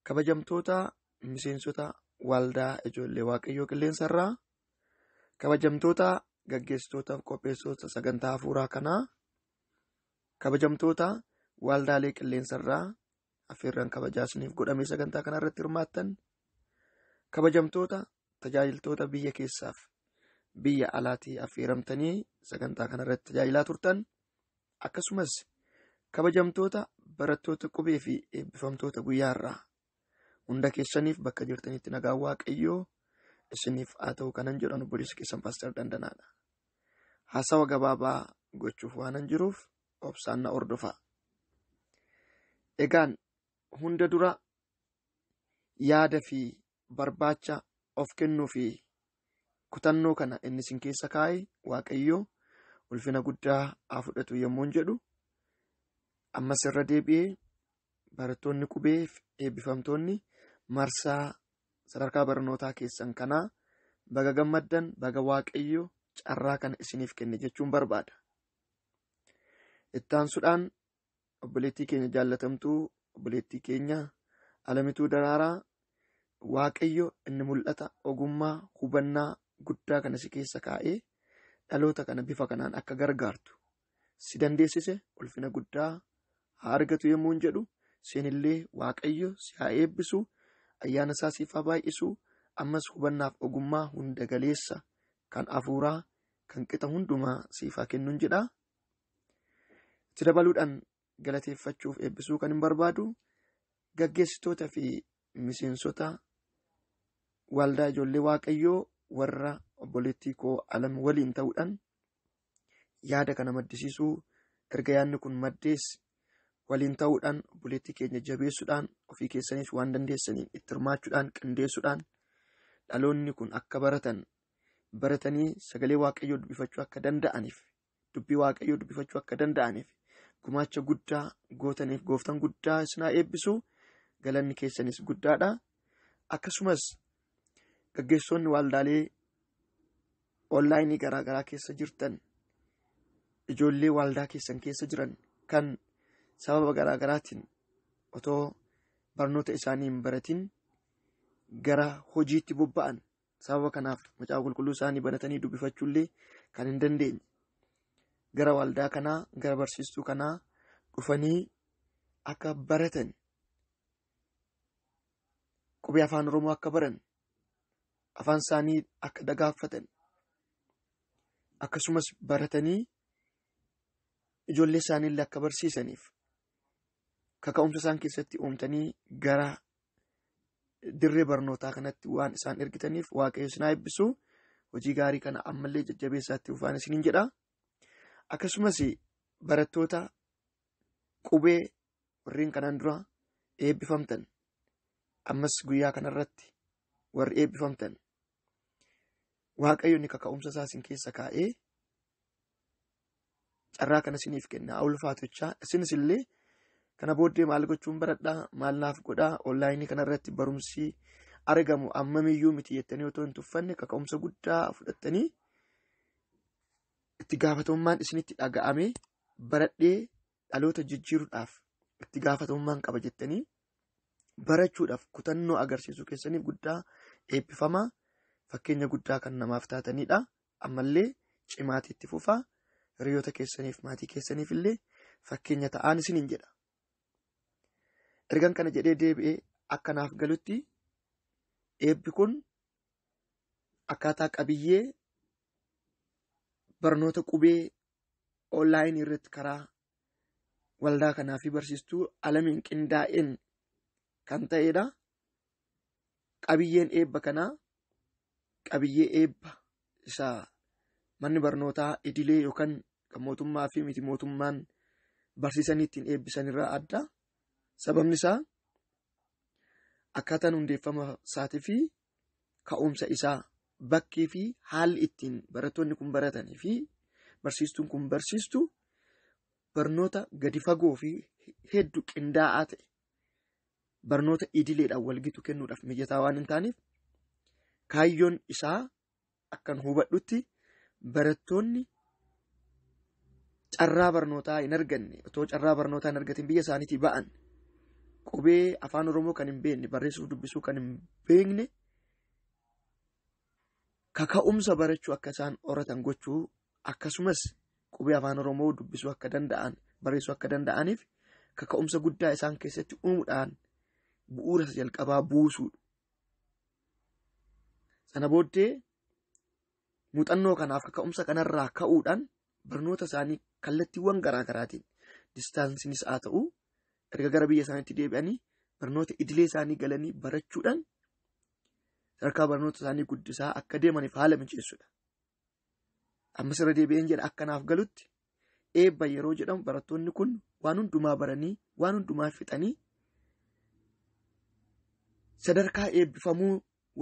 Kabajamtoota miseensota waldaa ijoollee waaqayyoo qilleensarraa kabajamtoota gaggeessitootaaf qopheessitoota sagantaa hafuuraa kanaa kabajamtoota waldaalee qilleensarraa affeerraan kabajaa isiniif godhamee sagantaa kana irratti hirmaattan kabajamtoota tajaajiltoota biyya keessaaf biyya alaatii affeeramtanii sagantaa kana irratti tajaajilaa turtan akkasumas kabajamtoota barattoota qubee fi eebbifamtoota guyyaa irraa hunda keessaniif bakka jirtanitti nagaa waaqayyoo isiniif haa ta'u kanan jedhan obboleessi keessan paaster dandanaadha. Haasawa gabaabaa gochuuf waanan jiruuf obsaan na hordofaa. Egaan hunda dura yaada fi barbaacha of kennuu fi kutannoo kana inni isin keessa kaa'e Waaqayyoo ulfina guddaa haa fudhatu yommuun jedhu ammas irra deebi'ee barattoonni qubee fi eebbifamtoonni marsaa sadarkaa barnootaa keessan kanaa baga gammaddan baga Waaqayyo carraa kana isiniif kenne jechuun barbaada. Ittaansuudhaan obboleettii keenya jaallatamtuu obboleettii keenya alamituu daraaraa waaqayyo inni mul'ata ogummaa hubannaa guddaa kana si keessa kaa'ee dhaloota kana bifa kanaan akka gargaartu si dandeessise ulfina guddaa haa argatu yommuu hin jedhu seenillee waaqayyo si haa eebbisu ayyaana isaa siif haa baay'isu ammas hubannaaf ogummaa hunda galeessa kan afuuraa kan qixa hundumaa siif haa kennuun jedha. Itti dabaluudhaan galateeffachuuf eebbisuu kan hin barbaadu gaggeessitoota fi miseensota waldaa ijoollee waaqayyoo warra obboleettii koo alam waliin ta'uudhaan yaada kana maddisiisuu erga yaadni kun maddees waliin ta'uudhaan obboleettii keenya jabeessuudhaan ofii keessaniif waan dandeessaniin itti hirmaachuudhaan qindeessuudhaan dhaloonni kun akka baratan baratanii sagalee waaqayyoo dubbifachuu akka danda'aniif dubbii waaqayyoo dubbifachuu akka danda'aniif gumaacha guddaa gootaniif gooftan guddaa isinaa eebbisu galanni keessanis guddaadha akkasumas gaggeessoonni waaldaalee onlaayinii garaa garaa keessa jirtan ijoollee waaldaa keessan keessa jiran kan sababa garaa garaatiin otoo barnoota isaanii hin baratin gara hojiitti bobba'an Sababa kanaaf macaafa qulqulluu isaanii banatanii dubbifachuullee kan hin dandeenye. Gara waldaa kanaa, gara barsiistuu kanaa dhufanii akka baratan qubee afaan Oromoo akka baran afaan isaanii akka dagaaffatan akkasumas baratanii ijoollee isaaniillee akka barsiisaniif kaka'umsa isaan keessatti uumtanii gara dirree barnootaa kanatti waan isaan ergitaniif waaqayyo isin haa eebbisu. Hojii gaarii kana ammallee jajjabeessaatti ufaan isiniin jedha. Akkasumas barattoota qubee warreen kanaan dura eebbifamtan ammas guyyaa kanarratti warri eebbifamtan waaqayyoonni kaka'umsa isaa isin keessa kaa'ee carraa kana isiniif kenna haa ulfaatu jecha isinis illee kana booddee maal gochuun baradhaa maal naaf godhaa onlaayinii kanarratti barumsi argamu ammamiyyuu miti jettanii otoo hin tuffanne kaka'umsa guddaa fudhattanii itti gaafatamummaan isinitti dhaga'amee baradhee dhaloota jijjiiruudhaaf itti gaafatamummaan qaba jettanii barachuudhaaf kutannoo agarsiisuu keessaniif guddaa eebbifamaa fakkeenya guddaa kan namaaf taatanidha. Ammallee cimaatti itti fufaa hiriyoota keessaniif maatii keessaniif illee fakkeenya ta'aa isiniin jedha. Ergan kana jedhee deebi'ee akka naaf galutti eebbi kun akkaataa qabiyyee barnoota qubee onlaayinii irratti karaa waldaa kanaa fi barsiistuu alamiin qindaa'een kan ta'edha. Qabiyyeen eebba kanaa qabiyyee eebba isa manni barnootaa idilee yookaan kan mootummaa fi miti mootummaan barsiisanii ittiin eebbisan irraa adda. Sababni isaa akkaataan hundeeffama isaatii fi ka'umsa isaa bakkii fi haalli ittiin barattoonni kun baratanii fi barsiistuun kun barsiistu barnoota gadi fagoo fi heddu qindaa'aa ta'e barnoota idileedhaan walgitu kennuudhaaf mijataa waan hin taaneef kaayyoon isaa akkan hubadhutti barattoonni carraa barnootaa hin arganne otoo carraa barnootaa hin argatin biyya isaaniitii ba'an qubee afaan oromoo kan hin beekne barreessuuf dubbisuu kan hin beekne kaka'umsa barachuu akka isaan horatan gochuu akkasumas qubee afaan oromoo dubbisuu akka danda'an barreessuu akka danda'aniif kaka'umsa guddaa isaan keessatti uumuudhaan bu'uura isa jalqabaa buusuu Sana booddee muuxannoo kanaaf kaka'umsa kanarraa ka'uudhaan barnoota isaanii kallattiiwwan garaa garaatiin distaansiinis haa ta'u erga gara biyya isaaniitti deebi'anii barnoota idilee isaanii galanii barachuudhaan sadarkaa barnoota isaanii guddisaa akka deemaniif haala mijeessuudha. Ammas irra deebi'een jedha akka naaf galutti eebba yeroo jedhamu barattoonni kun waan hundumaa baranii waan hundumaa fixanii sadarkaa eebbifamuu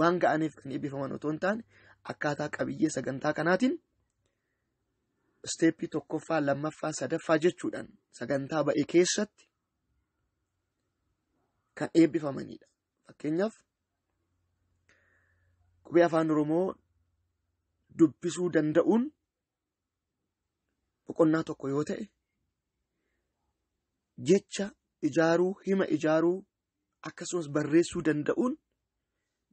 waan ga'aniif kan eebbifaman otoo hin taane akkaataa qabiyyee sagantaa kanaatiin isteeppii tokkoffaa lammaffaa sadaffaa jechuudhaan sagantaa ba'e keessatti kan eebbifamanidha. Fakkeenyaaf qubee afaan Oromoo dubbisuu danda'uun boqonnaa tokko yoo ta'e jecha ijaaruu hima ijaaruu akkasumas barreessuu danda'uun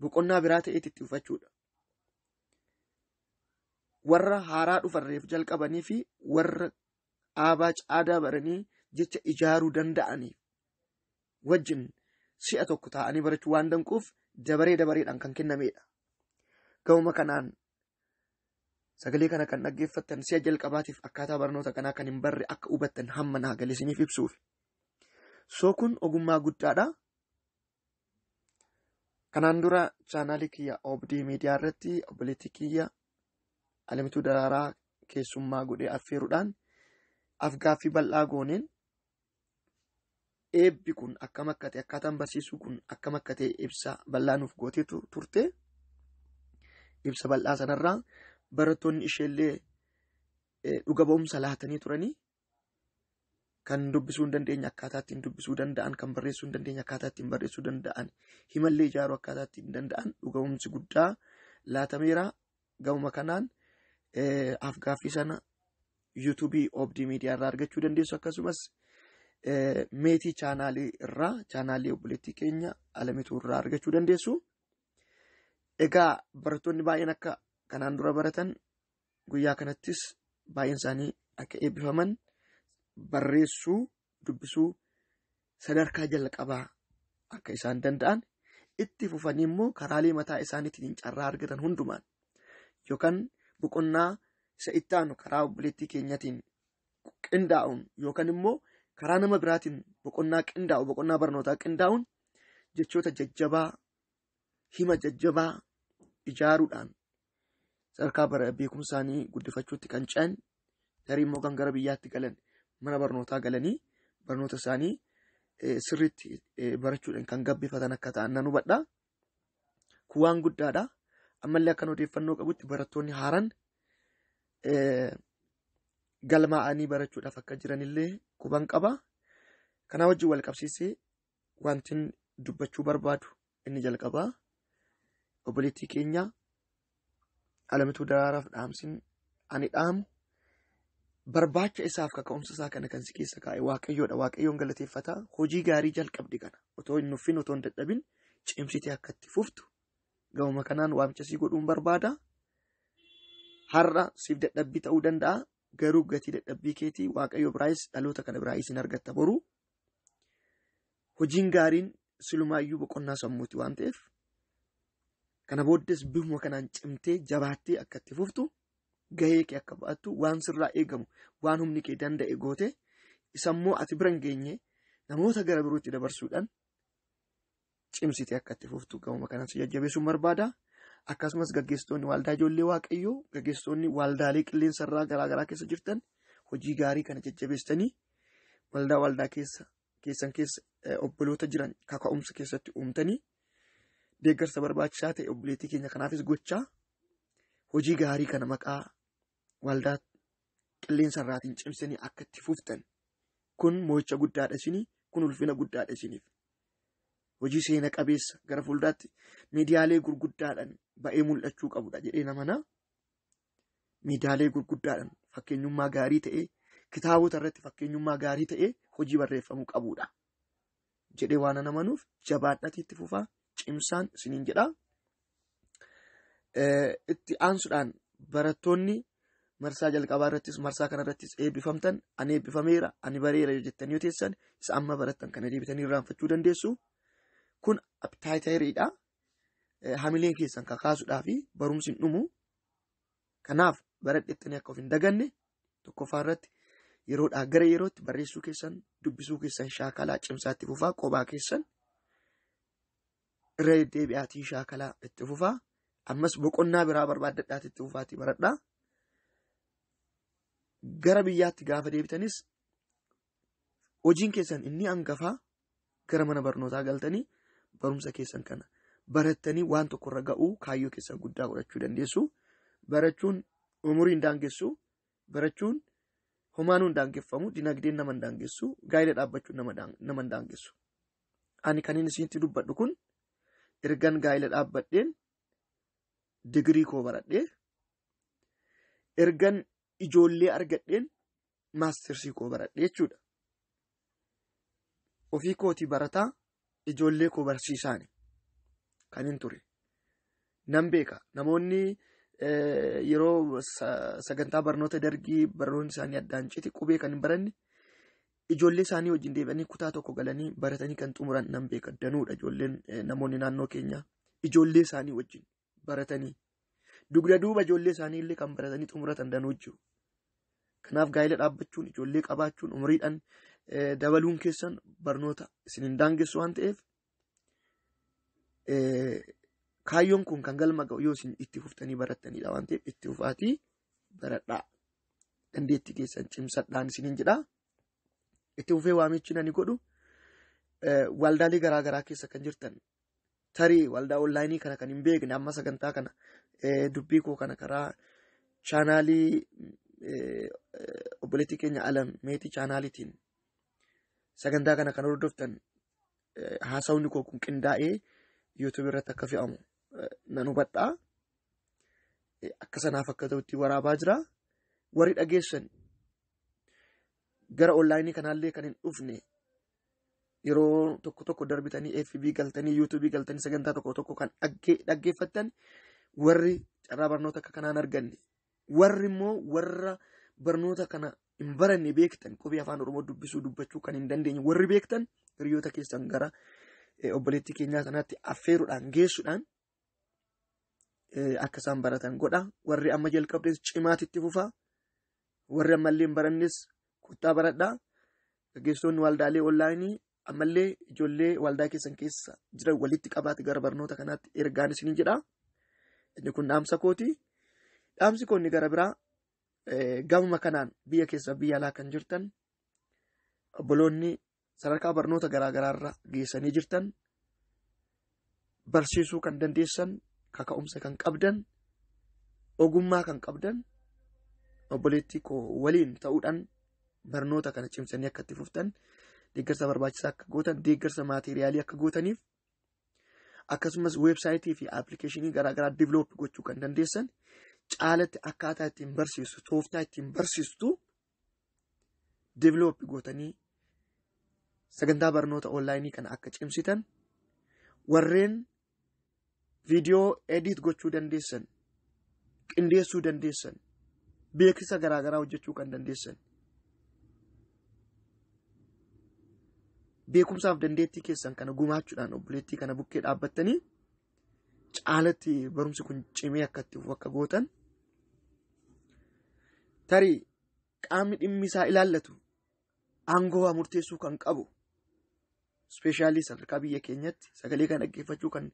boqonnaa biraa ta'eetti itti fufachuudha. Warra haaraa dhufarreef jalqabanii fi warra aabaa caadaa baranii jecha ijaaruu danda'aniif wajjin si'a tokko taa'anii barachuu waan danquuf dabaree dabareedhaan kan kennameedha. Ga'uma kanaan sagalee kana kan dhaggeeffattan si'a jalqabaatiif akkaataa barnoota kanaa kan hin barre akka hubattan hamma naa galee isiniif ibsuuf. Soo kun ogummaa guddaadha. Kanaan dura chaanaalii kiyya Obdii Miidiyaa irratti obboleettii kiyya Alamituu Daraaraa keessummaa godhee affeeruudhaan afgaaffii bal'aa gooneen eebbi kun akkam akka ta'e akkaataan barsiisuu kun akkam akka ta'e ibsa bal'aa nuuf gootee tu- turte. Ibsa bal'aa sanarraa barattoonni isheellee eh, dhuga ba'umsa laatanii turanii kan dubbisuu hin dandeenye akkaataa ittiin dubbisuu danda'an kan barreessuu hin dandeenye akkaataa ittiin barreessuu danda'an himallee ijaaruu akkaataa ittiin danda'an dhuga ba'umsi guddaa laatameera Gamuma kanaan afgaaffii sana yuutuubii Obdii Miidiyaa irraa argachuu dandeessu akkasumas meetii chaanaalii irraa chaanaalii obboleettii keenya alamituu irraa argachuu dandeessu. Egaa barattoonni baay'een akka kanaan dura baratan guyyaa kanattis baay'een isaanii akka eebbifaman barreessuu dubbisuu sadarkaa jalqabaa akka isaan danda'an itti fufanii immoo karaalee mataa isaaniitiin carraa argatan hundumaan yookaan boqonnaa isa itti aanu karaa obboleettii keenyatiin qindaa'uun yookaan immoo karaa nama biraatiin boqonnaa qindaa'u boqonnaa barnootaa qindaa'uun jechoota jajjabaa hima jajjabaa ijaaruudhaan sadarkaa bara beekumsaanii guddifachuutti kan ce'an tarii immoo kan gara biyyaatti galan mana barnootaa galanii barnoota isaanii eh, sirriitti eh, barachuudhaan kan gabbifatan akka ta'an nan hubadha. Kun waan guddaadha. Ammallee akkan odeeffannoo qabutti barattoonni haaran eh, galmaa'anii barachuudhaaf akka jiranillee quban qaba. Kanaa wajjin wal qabsiisee wantin dubbachuu barbaadu inni jalqabaa obboleettii keenya alamituu daraaraaf dhaamsin ani dhaamu barbaacha isaaf kaka'umsa isaa kana kan si keessa kaa'e waaqayyoodha waaqayyoon galateeffata hojii gaarii jalqabde kana otoo hin nuffin otoo hin dadhabin cimsitee akka itti fuftu gahuma kanaan waamicha sii godhuun barbaada har'a siif dadhabbii ta'uu danda'a garuu gatii dadhabbii keetii waaqayyo biraayis dhaloota kana biraayis hin argatta boruu Hojiin gaariin silumaayyuu boqonnaa sammuuti waan ta'eef kana booddees bifuma kanaan cimtee jabaattee akka itti fuftu gahee kee akka ba'attu waan sirraa eegamu waan humni kee danda'e goote isammoo ati bira hin geenye namoota gara birootti dabarsuudhaan cimsitee akka itti fuftu gahuma kanan si jajjabeessuun barbaada. Akkasumas gaggeessitoonni waaldaa ijoollee waaqayyoo gaggeessitoonni waaldaalee qilleensa irraa garaa garaa keessa jirtan hojii gaarii kana jajjabeessitanii waldaa waldaa keessa keessan keessa obboloota jiran kaka'umsa keessatti uumtanii deeggarsa barbaachisaa ta'e obboleettii keenya kanaafis gochaa hojii gaarii kana maqaa waldaa qilleensa irraatiin cimsanii akka itti fuftan kun mo'icha guddaadha isinii kun ulfina guddaadha isiniif. hojii seena qabeessa gara fuuldaatti miidiyaalee gurguddaadhaan ba'ee mul'achuu qabudha jedhee namanaa miidiyaalee gurguddaadhaan fakkeenyummaa gaarii ta'ee kitaabota irratti fakkeenyummaa gaarii ta'ee hojii barreeffamuu qabudha jedhee waan namanuuf jabaadhati itti fufaa cimsaan isiniin jedhaa. itti aansuudhaan barattoonni marsaa jalqabaa irrattis marsaa kana irrattis eebbifamtan ani eebbifameera ani bareera yoo jettanii yoo teessan isa amma barattan kana deebitanii irraanfachuu dandeessu kun abtaayitayiriidha hamileen keessan kakaasuudhaa fi barumsi hin dhumu kanaaf baradhettanii akka of hin daganne tokkoffaa irratti yeroodhaa gara yerootti barreessuu keessan dubbisuu keessan shaakalaa cimsaatti fufaa qobaa keessan irra deddeebi'aatii shaakalaa itti fufaa ammas boqonnaa biraa barbaaddadhaati itti fufaatii baradhaa gara biyyaatti gaafa deebitanis hojiin keessan inni hangafaa gara mana barnootaa galtanii barumsa keessan kana barattanii waan tokkorra ga'uu kaayyoo keessan guddaa godhachuu dandeessu barachuun umurii hin daangessu barachuun homaanuu hin daangeffamu dinagdeen nama hin daangessu gaa'ila dhaabbachuun nama hin daangessu. ani kanin isinitti dubbadhu kun ergan gaa'ila dhaabbadheen digirii koo baradhee ergan ijoollee argadheen maastersii koo baradhee jechuudha. Ofii kootii barataa ijoollee koo barsiisaani kan hin ture. Nan beeka namoonni yeroo sagantaa barnoota dargii barnoonni isaanii addaan citi qubee kan hin baranne Ijoollee isaanii wajjin deebi'anii kutaa tokko galanii baratanii kan xumuran nan beeka danuudha ijoolleen eh, namoonni naannoo keenyaa ijoollee isaanii wajjin baratanii dugda duuba ijoollee isaanii illee kan baratanii xumuratan danuu jiru. Kanaaf gaa'ela dhaabbachuun ijoollee qabaachuun umriidhaan eh, dabaluun keessan barnoota isin hin daangessu waan ta'eef Kaayyoon kun kan galma ga'u yoo isin itti fuftanii barattanidha waan ta'eef itti fufaatii baradhaa. Dandeettii keessan cimsadhaan isiniin jedha. Itti fufee waamichi nani godhu waldaalee garaa garaa keessa kan jirtan tarii waldaa onlaayinii kana kan hin beekne amma sagantaa kana dubbii koo kana karaa chaanaalii obboleettii keenya alam meetii chaanaaliitiin sagantaa kana kan hordoftan haasawni koo kun qindaa'ee YouTube irratti akka fe'amu nan hubadha. Akka sanaaf akka ta'utti waraabaa jira. Warri dhageessan gara onlaayinii kanaallee kan hin dhufne yeroo tokko tokko darbitanii FB galtanii YouTube galtanii sagantaa tokko tokko kan dhaggeeffattan warri carraa barnoota akka kanaan arganne warri immoo warra barnoota kana hin baranne beektan qubee afaan oromoo dubbisuu dubbachuu kan hin dandeenye warri beektan hiriyoota keessan gara eh, obboleettii keenyaa kanaatti affeeruudhaan geessuudhaan eh, akka isaan baratan godha warri amma jalqabdes cimaatti itti fufaa warri ammallee hin barannes kottaa baradhaa gaggeessitoonni waldaalee onlaayinii ammallee ijoollee waldaa keessan keessa jiran walitti qabaatti gara barnoota kanaatti ergaan isiniin jedha inni kun dhaamsa kooti dhaamsi koonni gara biraa Gamuma kanaan biyya keessa biyya alaa kan jirtan obboloonni sadarkaa barnoota garaa garaarra geessanii jirtan barsiisuu kan dandeessan kaka'umsa kan qabdan ogummaa kan qabdan obboleettii koo waliin ta'uudhaan barnoota kana cimsanii akka itti fuftan deeggarsa barbaachisaa akka gootan deeggarsa maateeriyaalii akka gootaniif akkasumas weebsaayitii fi appilikeeshinii garaagaraa diviloopi gochuu kan dandeessan caalatti akkaataa ittiin barsiistu tooftaa ittiin barsiistu diviloopi gootanii sagantaa barnoota onlaayinii kana akka cimsitan warreen viidiyoo edit gochuu dandeessan qindeessuu dandeessan beeksisa garaagaraa hojjechuu kan dandeessan beekumsaaf dandeettii keessan kana gumaachuudhaan obboleettii kana bukkee dhaabbattanii caalatti barumsi kun cimee akka itti fufu akka gootan tarii qaamni dhimmi isaa ilaallatu aangoo waa murteessuu kan qabu ispeeshaalii sadarkaa biyya keenyatti sagalee kan dhaggeeffachuu kan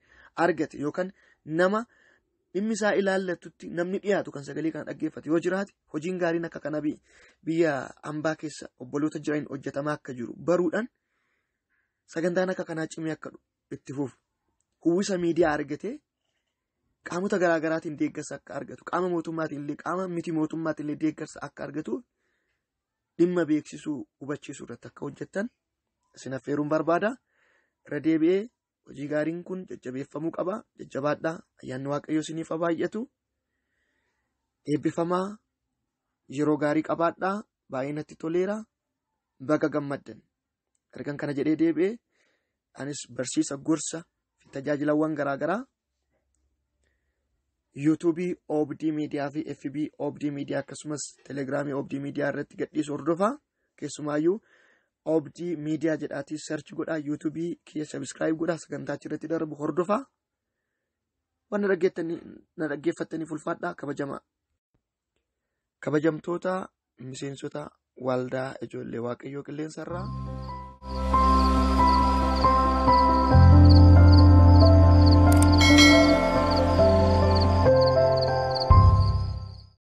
argate yookaan nama dhimmi isaa ilaallatutti namni dhiyaatu kan sagalee kana dhaggeeffate yoo jiraate hojiin gaariin akka kana biyya ambaa keessa obboloota jiran hojjetamaa akka jiru baruudhaan sagantaan akka kanaa cimee akka itti fufu uwwisa miidiyaa argatee qaamota garaagaraatiin deeggarsa akka argatu qaama mootummaatiin illee qaama miti mootummaatiin illee deeggarsa akka argatuuf dhimma beeksisuu hubachiisuu irratti akka hojjettan isin affeeruun barbaada. Irra deebi'ee hojii gaariin kun jajjabeeffamuu qaba. Jajjabaadhaa ayyaanni waaqayyoo isiniif haa baay'atu. Eebbifamaa yeroo gaarii qabaadhaa baay'ee natti toleera. Baga gammaddan. Ergan kana jedhee deebi'ee anis barsiisa gorsa fi tajaajilawwan garaagaraa yuutuubii oobdii miidiyaa fi fb oobdii miidiyaa akkasumas telegiraamii oobdii miidiyaa irratti gadhiisu hordofaa keessumaayyuu oobdii miidiyaa jedhaatii search godhaa yuutuubii kiyya sabiskiraayib godhaa sagantaa achirratti darbu hordofaa waan na dhaggeeffattaniif ulfaadhaa kabajamaa. Kabajamtoota miseensota waldaa ijoollee waaqayyoo qilleensa irraa.